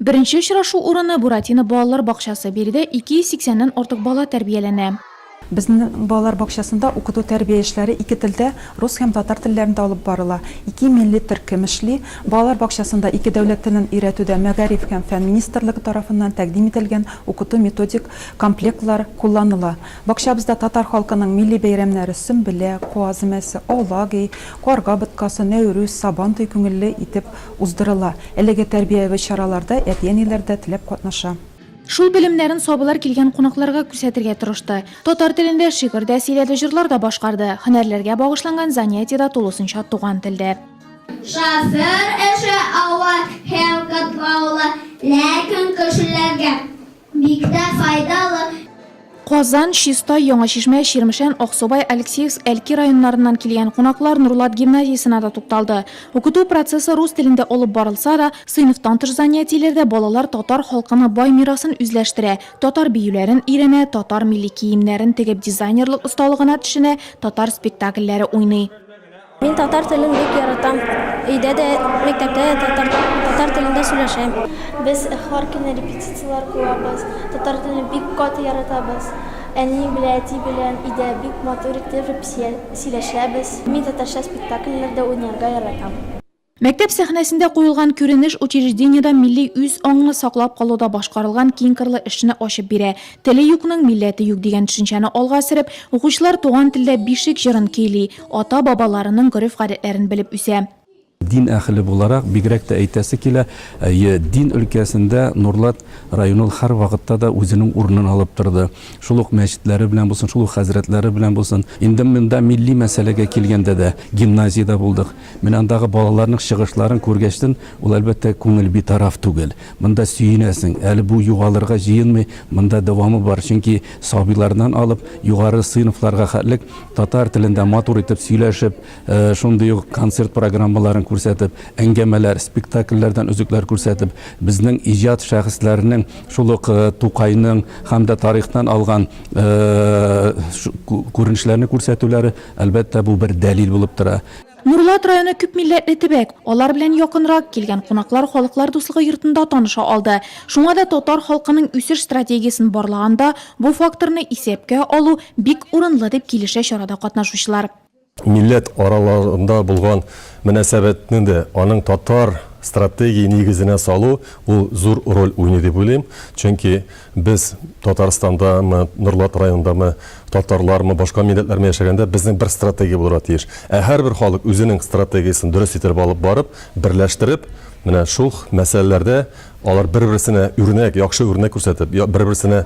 Беренче очрашу урыны Буратино балалар бакчасы, биредә 280 ннән артык бала тәрбияләнә. Безнең балалар бакчасында укыту-тәрбия эшләре ике телдә, рус һәм татар телләрендә алып барыла. Ике милли төркем эшли. Балалар бакчасында ике дәүләт телен өйрәтүдә Мәгариф һәм фән министрлыгы тарафыннан тәкъдим ителгән укыту-методик комплектлар кулланыла. Бакчабызда татар халкының милли бәйрәмнәре Сөмбелә, Куаз өмәсе, Аулаги, Карга боткасы, Нәүрүз, Сабантуй күңелле итеп Уздырыла. Әлеге тәрбияви чараларда әти-әниләр дә теләп катнаша. Шул белемнәрен сабылар килгән кунакларга күрсәтергә тырышты. Татар телендә шигырь дә сөйләде, җырлар да башкарды. Һөнәрләргә багышланган занятиедә тулысынча туган телдә. Шофер эше авыр һәм катлаулы, ләкин кешеләргә. Бик тә файдалы. Казан, Чистай, Яңа Чишмә, Чирмешән, Аксубай, Алексеевск, Әлки районнарыннан килгән кунаклар Нурлат гимназиясенә дә тукталды. Укыту процессы рус телендә алып барылса да, сыйныфтан тыш занятиеләрдә балалар татар халкының бай мирасын үзләштерә, татар биюләрен өйрәнә, татар милли киемнәрен тегеп дизайнерлык осталыгына төшенә, татар спектакльләре уйный. Мин татар телен бик яратам. Өйдә дә, мәктәптә дә татар, татар телендә сөйләшәм. Без һәр көнне репетицияләр куабыз. Татар телен бик каты яратабыз. Әни белән әти белән өйдә бик матур итеп репсия сөйләшәбез. Мин татарча спектакльләрдә уйнарга яратам. Мәктәп сәхнәсендә куелган күренеш учреждениедә милли үз аңны саклап калуда башкарылган киңкырлы эшне ачып бирә. Теле юкның милләте юк дигән төшенчәне алга сөреп, укучылар туган телдә Бишек җырын көйли, ата-бабаларының гореф-гадәтләрен белеп үсә. Дин әһеле буларак, бигрәк тә әйтәсе килә, әйе, дин өлкәсендә Нурлат районы ул һәрвакытта да үзенең урынын алып торды. Шул ук мәчетләре белән булсын, шул ук хәзрәтләре белән булсын. Инде монда милли мәсьәләгә килгәндә дә, гимназиядә булдык. Менә андагы балаларның чыгышларын күргәчтен, ул, әлбәттә, күңел битараф түгел. Монда сөенәсең. Әле бу югалырга җыенмый, монда дәвамы бар, чөнки сабыйлардан алып, югары сыйныфларга хәтлек татар телендә матур итеп сөйләшеп, шундый ук концерт программаларын күрсәтеп, әңгәмәләр, спектакльләрдән өзекләр күрсәтеп, безнең иҗат шәхесләренең, шул ук Тукайның һәм дә тарихтан алган күренешләрне күрсәтүләре, әлбәттә, бу бер дәлил булып тора. Нурлат районы күпмилләтле төбәк, алар белән якынрак килгән кунаклар Халыклар дуслыгы йортында таныша алды. Шуңа да татар халкының үсеш стратегиясен барлаганда бу факторны исәпкә алу бик урынлы, дип килешә чарада катнашучылар. Милләт араларында булган мөнәсәбәтне дә аның татар стратегия нигезенә салу ул зур роль уйный дип уйлыйм, чөнки, Без, Татарстандамы, Норлат районындамы, татарлармы, башка милләтләрме яшәгәндә, безнең бер стратегия булырга тиеш. Ә һәрбер халык үзенең стратегиясен дөрес итеп алып барып, берләштереп, менә шул мәсьәләләрдә алар бер-берсенә үрнәк, яхшы үрнәк күрсәтеп, бер-берсенә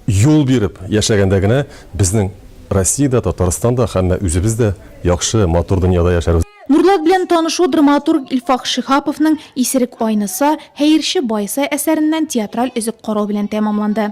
юл биреп яшәгәндә генә безнең Россиядә, Татарстанда, һәммә үзебез дә яхшы, матур дөньяда яшәрбез. Нурлат белән танышу драматург Илфак Шиһаповның Исерек айныса, Хәерче байыса әсәреннән театраль өзек карау белән тәмамланды.